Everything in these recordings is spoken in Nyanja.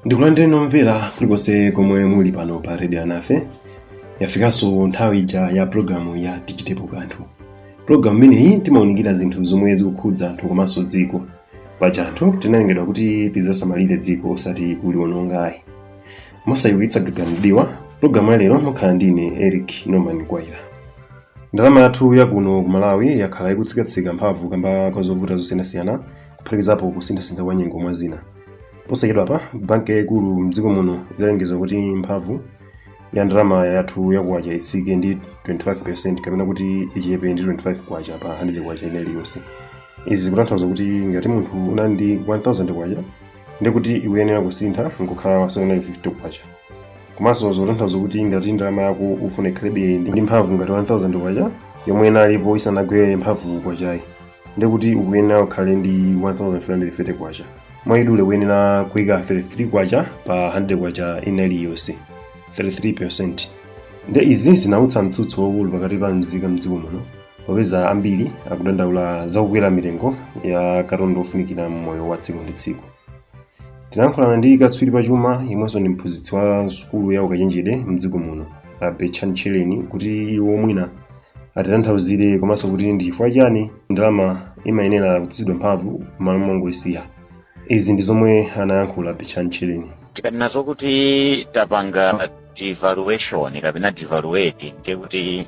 ndikulandireni omvera kulikonse komwe muli pano pa redio yanafe yafikanso nthawi ija ya pulogalamu ya tichitepo kanthu pulogalamu imeneyi timaunikira zinthu zomwe zikukhudza anthu komanso dziko paja anthu tinalengedwa kuti tidzasamalire dziko osati kuliwononga ayi mosayiwitsa gaga m'diwa pulogalamu ya lero mukhala ndine eric norman kwaira ndalama yathu yakuno ku malawi yakhala ikutsikatsika mphamvu kamba ka zovuta zosiyanasiyana kuphatikizapo kusinthasintha kwa nyengo mwa zina posachedwapa banki yayikulu mdziko muno idalengeza kuti mphamvu ya ndalama yathu ya kwacha itsike ndi 25% kapena kuti ichepe ndi 25 kwacha pa 100 kwacha ina iliyonse izi zikutanthauza kuti ngati munthu unali ndi 1000 kwacha ndi kuti ikuyenera kusintha nkukhala 750 kwacha komanso zikutanthauza kuti ngati ndalama yako ufuna ikhalebe ndi mphamvu ngati 1000 kwacha yomwe inalipo isanagwere mphamvu kwachayi ndekuti ukuyenera ukhale ndi 1330 kwacha mwaidule kuyenera kuika 33 kwacha pa 100 kwacha ina iliyonse 33 nde izi zinautsa mtsutso waukulu pakati pa mzika mdziko muno popeza ambiri akudandaula za kukwera mitengo ya katundu ofunikira mmoyo wa tsiku ndi tsiku tinayankhulana ndi katswiri pa chuma yemwenso ndi mphunzitsi wa sukulu ya ukachenjede mdziko muno a betchani tchereni kuti iwo mwina atitanthauzire komanso kuti ndi chifukwa chani ndalama imayenera kutsitsidwa mphamvu m'malo mongoyisiya izi ndi zomwe anayankhula betchani tchereni tikanena zokuti tapanga devaluation kapena devaluate ndiye kuti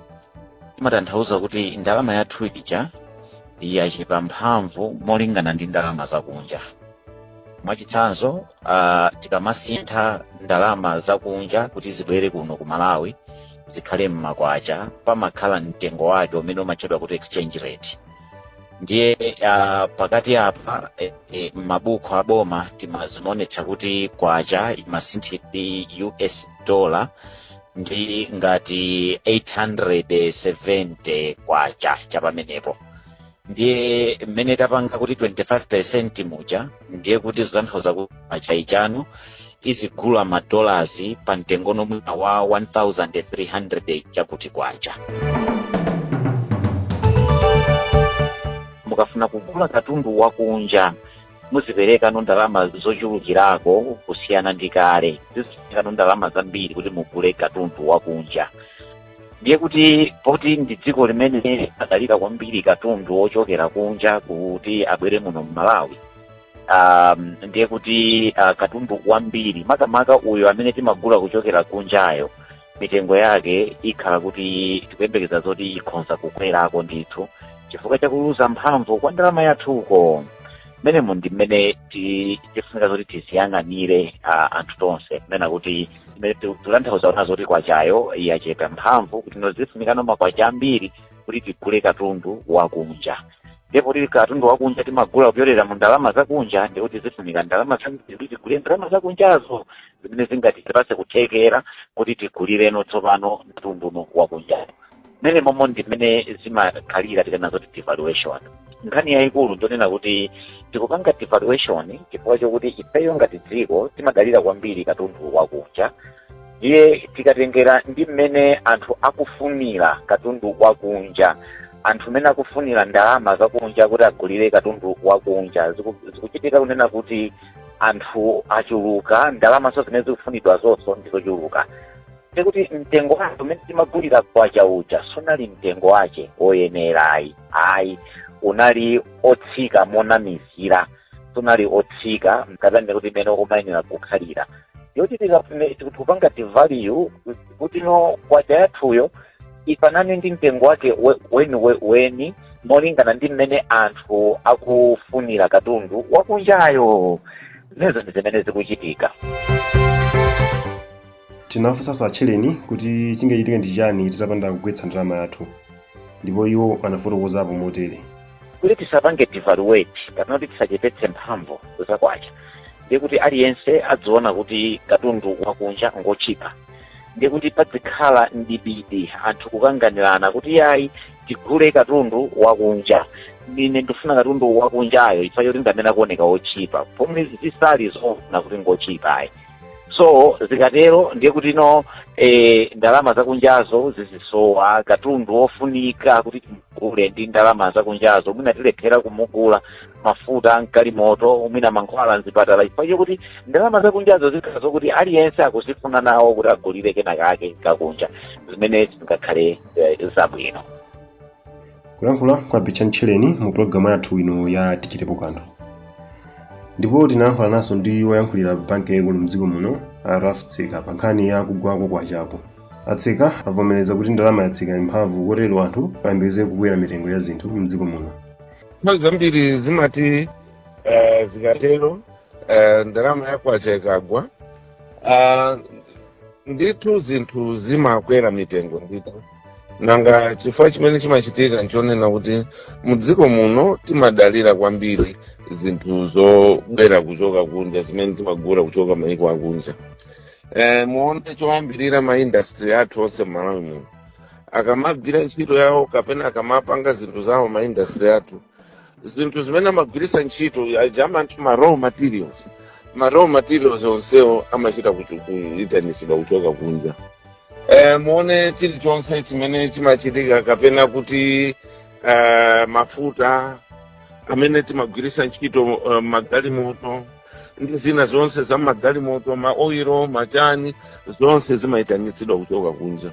timatanthauza kuti ndalama yathu ija yachepa mphamvu molingana ndi ndalama zakunja mwachitsanzo uh, tikamasintha ndalama zakunja kuti zibwere kuno ku malawi zikhale mmakwacha pamakhala mtengo wake umene umatchedwa kuti exchange rate ndiye uh, pakati apa eh, eh, mmabuku aboma tima zimaonetsa kuti kwacha imasinthidwa ndi us dollar ndi ngati 870 kwacha chapamenepo ndiye mmene tapanga kuti 25% muja ndiye kuti zitanthauza kuti kwachayi tsopano izigula madolasi pa mtengo no mwina wa 1300 chakuti kwacha mukafuna kugula katundu wakunja muzipereka no ndalama zochulukirako kusiyana ndi kale zizipereka no ndalama zambiri kuti mugule katundu wakunja ndiye kuti poti ndi dziko limene limadalira kwambiri katundu wochokera kunja kuti abwere muno mmalawi um, ndiye kuti uh, katundu wambiri makamaka uyo amene timagula kuchokera kunjayo mitengo yake ikhala kuti tikuyembekeza zoti ikhonza kukwerako ndithu chifukwa chakuluza mphamvu kwa ndalama yathuko mmenemo ndi mmene ti- tifunika zoti tiziyang'anire uh, anthu tonse kunena kuti zimene tikutanthauza nazo kuti kwachayo yachepa mphamvu kuti no zifunikano makwacha ambiri kuti tigule katundu wakunja ndipo kuti katundu wakunja timagula kupyolera mu ndalama zakunja ndiye kuti zifunika ndalama zambiri kuti tigule ndalama zakunjazo zimene zingatipatse kuthekera kuti tigulireno tsopano katundu wakunja mmenemo ndi mmene zimakhalira tikanena zoti devaluation nkhani yayikulu ndonena kuti tikupanga devaluation chifukwa chokuti ifeyo ngati dziko timadalira kwambiri katundu wakunja ndiye tikatengera ndi mmene anthu akufunira katundu wakunja anthu mmene akufunira ndalama zakunja kuti agulire katundu wakunja Ziku- zikuchitika kunena kuti anthu achuluka ndalamanso zimene zikufunidwa zonso ndizochuluka ndiye kuti mtengo wake umene timagulira kwacha uja sunali mtengo wake woyenera ayi ayi unali otsika monamizira sunali otsika kapena ndikuti imene umayenera kukhalira yoti tikafune tikupanga devalue kuti no kwacha yathuyo ifanane ndi mtengo wake we- weni we- weni molingana ndi mmene anthu akufunira katundu wakunjayo zimenezo ndi zimene zikuchitika Tinafunsanso a Tchereni kuti chingachitike ndi chiyani titapanda kugwetsa ndalama yathu ndipo iwo anafotokozapo motere. Kuti tisapange devalue kapena kuti tisachepetse mphamvu za kwacha ndiye kuti aliyense adziona kuti katundu wakunja ngotchipa ndiye kuti padzikhala mdibidi anthu kukanganirana kuti iyayi tigule katundu wakunja, ine ndikufuna katundu wakunjayo chifukwa choti ndi amene akuoneka wotchipa pomwe zisali zoona kuti ngotchipa ayi. so zikatero ndiye kuti no eh, ndalama zakunjazo zizisowa katundu wofunika kuti timugule ndi ndalama zakunjazo mwina tilephera kumugula mafuta a m'galimoto mwina mankhwala mzipatala chifukwa chokuti ndalama zakunjazo zikhala zokuti aliyense akuzifuna nawo kuti agulire kena kake kakunja zimene zingakhale eh, zabwino kulankhula kwa a betchani tchereni mu pulogalamu yathu ino ya tichitepo kanthu ndipo tinalankhulananso ndi woyankhulira banki yaikulu mdziko muno a ralph tseka pa nkhani ya kugwa kwa kwachako a tseka avomereza kuti ndalama yatsika mphamvu kotero anthu ayembekeze kukwera mitengo ya zinthu mdziko muno nthawi zambiri zimati eh, zikatero eh, ndalama ya kwacha ikagwa ah, ndithu zinthu zimakwera mitengo ndithu nanga chifukwa chimene chimachitika nchonena kuti mudziko muno timadalira kwambiri zinthu zobwera kuchoka kunja zimene timagula kuchoka maiko akunja e, muone choyambirira maindastry athu onse mmalawi muno akamagwira ntchito yawo kapena akamapanga zinthu zawo maindastry athu zinthu zimene amagwiritsa ntchito aja amati ma raw materials ma raw materials onsewo amachita kuitanitsidwa kuchoka kunja e, muone chilichonse chimene chimachitika kapena kuti e, mafuta amene timagwiritsa ntchito uh, magalimoto ndi zina zonse za magalimoto maoiro machani zonse zimayitanitsidwa kuchoka kunja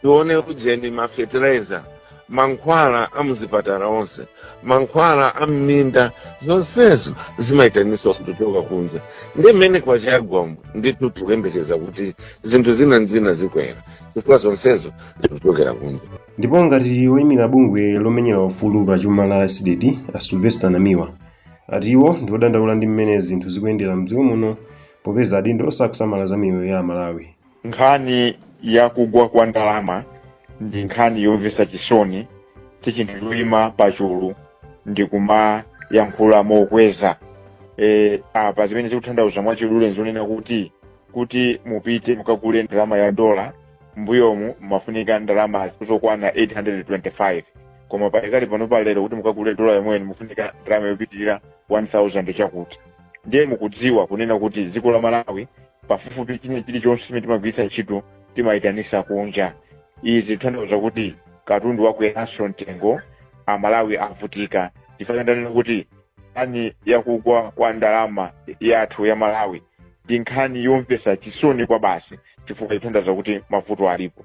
tione ujeni ma fertilizer mankhwala a muzipatala onse mankhwala a mminda zonsezo zimayitanisa kuchoka kunja ndiye mmene kwacha yagwamu ndithu tikuyembekeza kuti zinthu zina nzina zikwera chifukwa zonsezo zikuchokera kunja ndipo ngati woyimira bungwe lomenyera ufulu pa chuma la cdedi a sylvester namiwa ati iwo ndi odandaula ndi mmene zinthu zikuyendera mdziko muno popeza adindo sakusamala za miyoyo ya amalawi Nkhani ya kugwa kwa ndalama ndi nkhani yomvetsa chisoni, si chinthu choima pachulu ndi kumayankhula mokweza. E, apa zimene zikuthandauza mwachidule nzonena kuti kuti mupite mukagule ndalama ya dola mbuyomu mumafunika ndalama zokwana 825 koma pakali pano pa lero kuti mukagule dola yomweyo mufunika ndalama yopitirira 1000 chakuti ndiye mukudziwa kunena kuti dziko la malawi pafupifupi china chilichonse chimene timagwiritsa ntchito timayitanisa kunja izi zithandauza kuti katundu wakweranso mtengo amalawi avutika chifukwa ndanena kuti nkhani yakugwa kwa ndalama yathu ya malawi ndi nkhani yomvesa chisoni kwabasi chifukwa chithandauza kuti mavuto alipo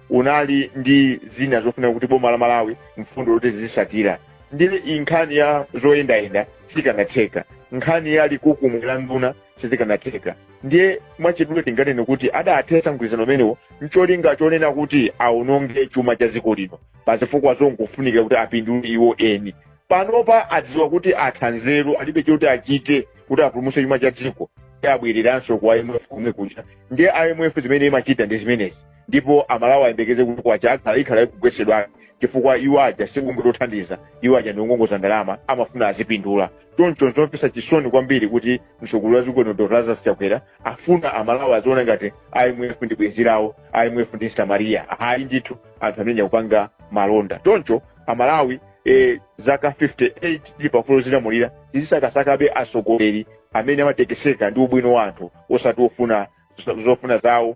unali ndi zina zofunika kuti boma la malawi mfundo loti zizisatira ndiye iyi nkhani ya zoyendayenda sikanatheka nkhani ya likukumwe la nduna sizikanatheka ndiye mwachidule tinganene kuti adathetsa mgwirizano umenewo mcholinga chonena kuti awononge chuma cha dziko lino pa zifukwa zongofunikira kuti apindule iwo eni panopa adziwa kuti atha nzeru alibe choti achite kuti apulumutse chuma cha dziko ndi abwereranso ku imf komwe kuja ndiye imf zimene imachita ndi zimenezi ndipo amalawi ayembekeze kuti kwacha akhala ikhala ikugwesedwa chifukwa iwo aja sikungotithandiza iwo aja ndi ongongoza ndalama amafuna azipindula choncho zomvetsa chisoni kwambiri kuti mtsogoleri wa dziko lino dr lazarus chakwera afuna amalawi aziona ngati imf ndi bwenzi lawo imf ndi samariya ayi ndithu anthu amene akupanga malonda choncho amalawi eh, zaka 58 tili pa ufulu wodzilamulira tizisakasakabe atsogoleri amene amatekeseka ndi ubwino wa anthu osati ofuna zofuna zawo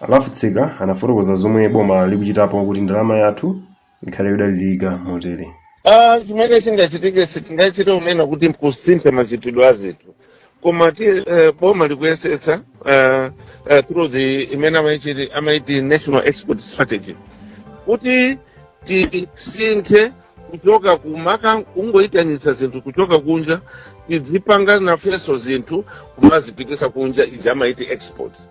Alafutsika anafotokoza zomwe boma likuchitapo kuti ndalama yathu ikhale yodalirika motere. Ah, chimene chingachitike sitingachite kunena kuti mkusintha machitidwe a zinthu koma ti eh, boma likuyesetsa eh, eh, through the imene amayichiti- amayiti national export strategy kuti tisinthe kuchoka kuma- kungoyitanitsa zinthu kuchoka kunja tidzipanga nafenso zinthu kumazipitisa kunja ija amayiti exports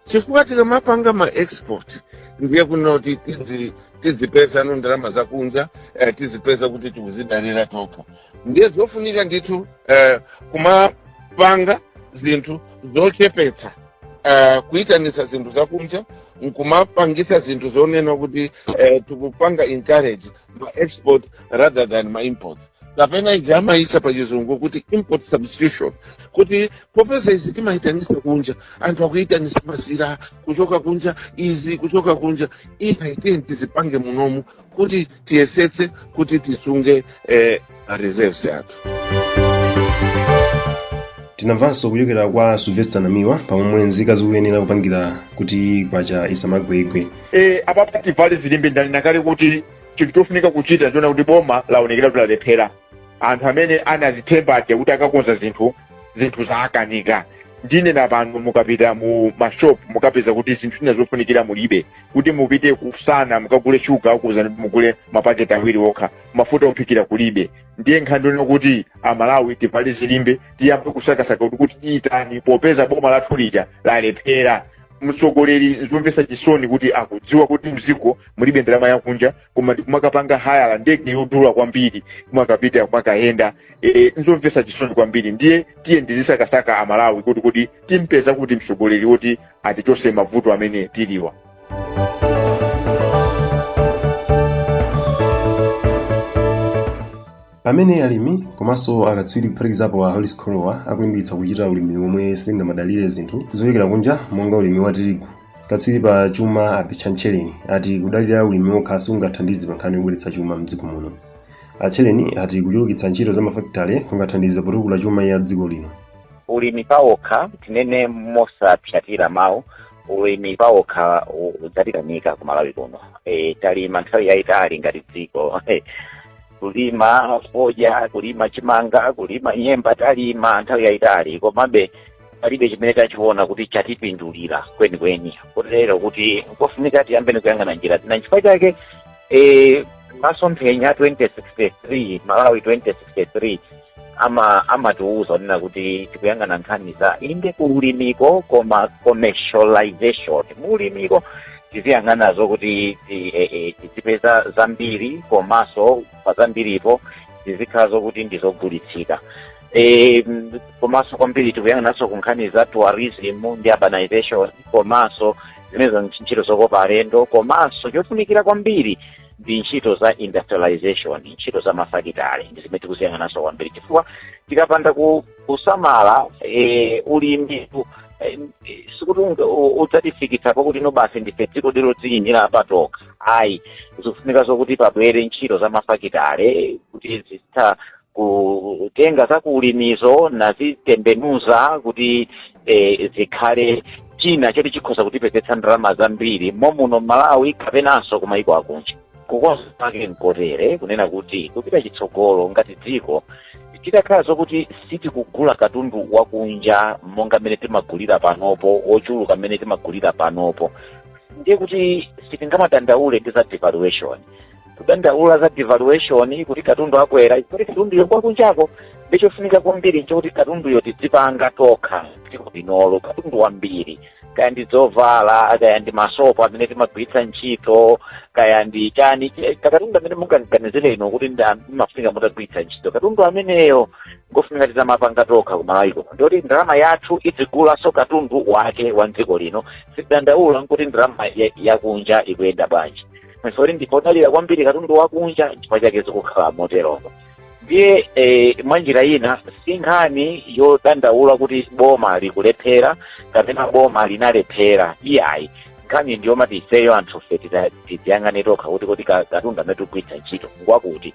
chifukwa tikamapanga ma export ndiye kunoti tidzi- tidzipeza ndalama zakunja eh, tidzipeza kuti tikuzidalira tokha ndiye zofunika ndithu eh, kumapanga zinthu zochepetsa eh, kuyitanitsa zinthu zakunja nkumapangitsa zinthu zonena kuti eh, tikupanga encourage ma export rather than ma import kapena ija amayitcha pa chizungu kuti import substitution kuti popeza izi timayitanisa kunja anthu akuyitanisa mazira kuchoka kunja izi kuchoka kunja iyayi tiyeni tizipange munomo kuti tiyesetse kuti tisunge eh, a reserves athu tinamvanso kuchokera kwa sylvester namiwa pamomwe nzika zikuyenera kupangira kuti kwacha isamagwegwe e, apapa tivale zilimbe ndanena kale kuti chinthu chofunika kuchita ndiona kuti boma laonekera kuti lalephera anthu amene anazithemba aja kuti akakonza zinthu zinthu zaakanika ndikunena pano mukapita mu mashop mukapeza kuti zinthu zina zofunikira mulibe kuti mupite ku sana mukagule shuga akuuzani kuti mugule mapaketi awiri okha mafuta ophikira kulibe ndiye nkhani yonena kuti amalawi tivale zilimbe tiyambe kusakasaka kuti kuti titani popeza boma lathu lija lalephera mtsogoleri zomvetsa chisoni kuti akudziwa kuti mziko mulibe ndalama yakunja koma ndikumakapanga hayala ndege yodula kwambiri kumakapita kumakayenda e, nzomvetsa chisoni kwambiri ndiye tiyeni tizisakasaka amalawi kodi kodi timpeza kuti mtsogoleri woti atichose mavuto amene tiliwa Pamene alimi komanso akatswiri kuphatikizapo a Hollis Kholowa akulimbikitsa kuchita ulimi womwe sungamadalire zinthu zochokera kunja monga ulimi wa tirigu, katswiri pa chuma a Betchani Tchereni ati kudalira ulimi wokha sikungathandize pa nkhani yobweretsa chuma m'dziko muno. A Tchereni ati kuchulukitsa ntchito za mafakitale kungathandize potukula chuma cha dziko lino. Ulimi pawokha, tinene mosapsatira mawu, ulimi pawokha ukutikanika ku malawi kuno e, talima nthawi yayitali ngati dziko kulima fodya kulima chimanga kulima nyemba talima nthawi yayitali komabe palibe chimene tachiona kuti chatipindulira kwenikweni kotero kuti nkofunika tiyambeni kuyang'ana njira zina nchifukwa chake e, masomphenya 2063 malawi 2063 ama amatiuza kunena kuti tikuyang'ana nkhani za inde kuulimiko koma commercialization muulimiko tiziyang'ana zokuti ti- eh, eh, tizipeza zambiri komanso pa zambiripo tizikhala zokuti ndizogulitsika Eh, m- komanso kwambiri tikuyang'ananso ku nkhani za tourism ndi urbanization komanso zimenezo ntchito zokopa alendo komanso chofunikira kwambiri ndi ntchito za industrialization ntchito za mafakitale ndi zimene tikuziyang'ananso kwambiri chifukwa tikapanda ku- kusamala eh, ulimi eh, sikuti unga- u- udzatifikitsa pokuti no basi ndife dziko lodziyimira patokha ayi zikufunika zokuti pabwere ntchito za mafakitale kuti zithe kutenga za kuulimizo nazitembenuza kuti eh, zikhale china choti chikhoza kutipezera ndalama zambiri mommuno m'malawi kapenanso ku mayiko akunja kukamba kwake nkotere kunena kuti kupita chitsogolo ngati dziko titakhala zokuti sitikugula katundu wakunja monga mmene timagulira panopo wochuluka mmene timagulira panopo ndiye kuti sitingamadandaule ndi za devaluation kudandaula za devaluation kuti katundu akwera kuti katunduyo kwa kunjako ndiye chofunika kwambiri nchokuti katunduyo tidzipanga tokha mdziko linolo katundu wambiri kaya ndi zovala kaya ndi masopo amene timagwiritsa ntchito kaya ndi chani ch- katundu amene mungaganizire inu kuti ndi am- amafunika mutagwiritsa ntchito katundu ameneyo ngofunika titamapanga tokha kumalawi kuno ndikuti ndalama yathu idzigulanso katundu wake wa mdziko lino sitidandaula nkuti ndalama ya- yakunja ikuyenda bwanji komanso kuti ndife odalira kwambiri katundu wakunja chifukwa chake zikukhala moteromo ndiye eh, mwa njira ina si nkhani yodandaula kuti boma likulephera kapena boma linalephera iyayi nkhani ndi yomati ifeyo anthufe tiziyang'ane tokha kuti kuti ka- katundu amene tikugwiritsa ntchito ngwakuti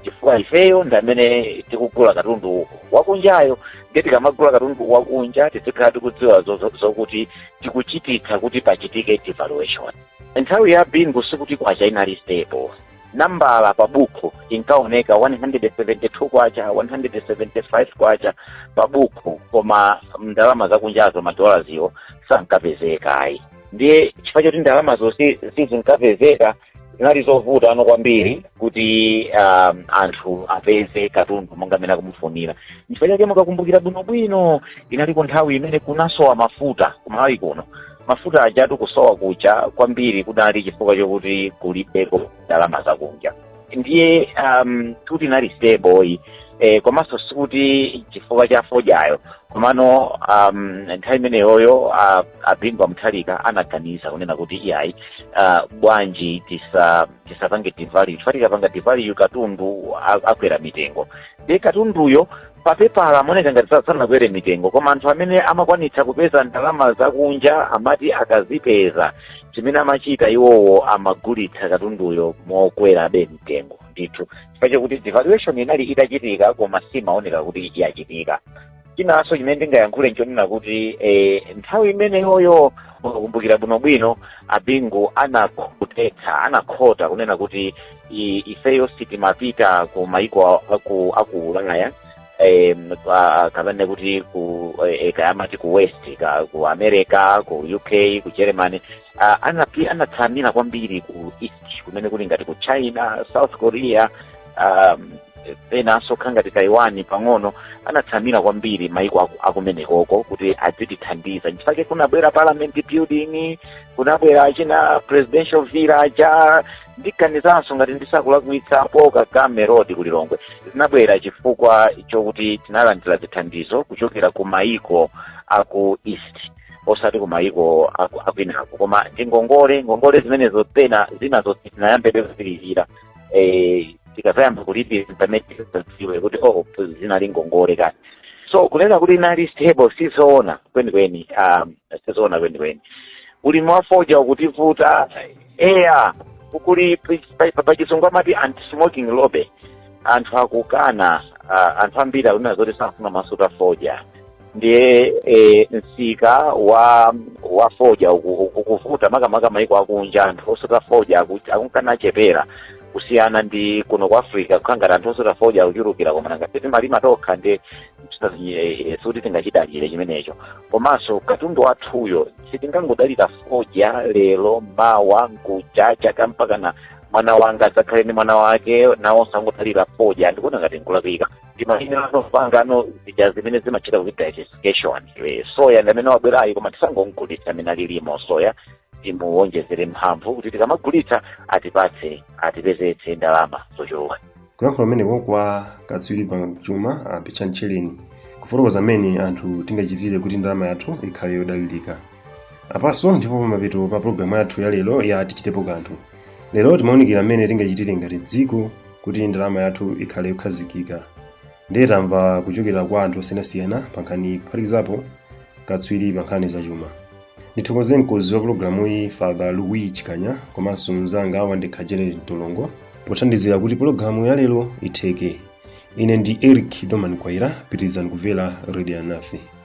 chifukwa ifeyo ndi amene tikugula katundu wakunjayo ndiye tikamagula katundu wakunja tizikhala tikudziwa zo- zo- zokuti tikuchititsa kuti pachitike devaluation Nthawi ya Bingu sikuti kwacha inali stable. Nambala pa bukhu inkaoneka 172 kwacha 175 kwacha pa bukhu koma ndalama zakunjazo madollarziwo sankapezeka ayi ndiye chifukwa chakuti ndalamazo si- sizinkapezeka zinali zovuta tsono kwambiri kuti um, anthu apeze katundu monga mmene akumufunira nchifukwa chake mukakumbukira bwinobwino inaliko nthawi imene kunasowa mafuta kumalawi kuno mafuta ajatu kusowa kuja kwambiri kunali chifukwa chokuti kulibeko ndalama zakunja ndiye um, kuti inali stable eh, komanso sikuti chifukwa cha fodyayo komano um, nthawi imeneyoyo uh, a Bingu wa Mutharika anaganiza kunena kuti iyayi uh, bwanji tisa tisapange devalue chifukwa tikapanga devalue katundu a- akwera mitengo de katunduyo papepala amaoneka ngati sa- sanakwere mitengo koma anthu amene amakwanitsa kupeza ndalama zakunja amati akazipeza chimene amachita iwowo amagulitsa katunduyo mokwerabe mtengo ndithu chifukwa chakuti devaluation inali itachitika koma simaoneka kuti yachitika chinanso chimene ndingayankhule nchonena kuti eh, nthawi imeneyoyo mukumbukira bwinobwino a Bingu anakhotetsa anakhota kunena kuti i- ifeyo si timapita ku maiko a- aku aku ulaya eh, pa- kapena kuti ku eh, eh, kaya amati ku west ka, ku america ku uk ku germany uh, anapi anatsamira kwambiri ku east kumene kuli ngati ku china south korea um, enanso okhala ngati taiwan pang'ono anatsamira kwambiri maiko aku- akumenekoko kuti adzitithandiza nchifake kunabwera parliament building kunabwera achina presidential villa aja ndiganizanso ngati ndisakulakwitsa paul kagame road ku lilongwe zinabwera chifukwa chokuti tinalandira zithandizo kuchokera ku maiko aku east osati ku maiko aku- akwinako koma ndi ngongole ngongole zimenezo pena zinazo tinayamba kale kuzilipira eh, tikazayamba kulipira pamene tidzadziwe kuti oh zinali ngongole kani so kunena kuti inali stable sizoona kwenikweni um, sizoona kwenikweni ulimi wa fodya ukutivuta eya kuli pachizungu amati anti-smoking lobby anthu akukana ah, anthu ambiri akunena zoti safuna kumasuta fodya ndiye e, msika wa wa fodya uku- uku- ukuvuta makamaka maiko akunja anthu osuta fodya aku- akunkana achepera kusiyana ndi kuno ku africa kukhala ngati anthu osuta fodya akuchulukira koma nanga si timalima tokha ndiye sikuti tingachidalire chimenecho komanso katundu wathuyo sitingangodalira fodya lero mawa mkuja chaka mpakana mwana wanga adzakhale ndi mwana wake nawonso angodalira fodya ndikuona ngati nkulakwitsa tiyambe nawo kupanga nawo zija zimene amatcha kuti diversification Eh, soya ndi amene wabwerayi koma tisangomgulitsa amene alili mo soya timuwonjezere mphamvu kuti tikamagulitsa atipatse atipezetse ndalama zochuluka kulankhula kumeneko kwa katswiri pa chuma a picha ntchilini kufotokoza mmene anthu tingachitire kuti ndalama yathu ikhale yodalirika apanso ndipo pamapeto pa programu yathu ya lero ya tichitepo kanthu lero timaunikira mmene tingachitire ngati dziko kuti ndalama yathu ikhale yokhazikika ndiye tamva kuchokera kwa anthu osiyanasiyana pa nkhani kuphatikizapo katswiri pa nkhani zachuma ndithokoze mkonzi wa programu iyi father louis chikanya komanso mnzanga wandekha janet mtolongo pothandizira kuti programu ya lero itheke ine ndi eric doman kwaira pitirizani kumvera radio alinafe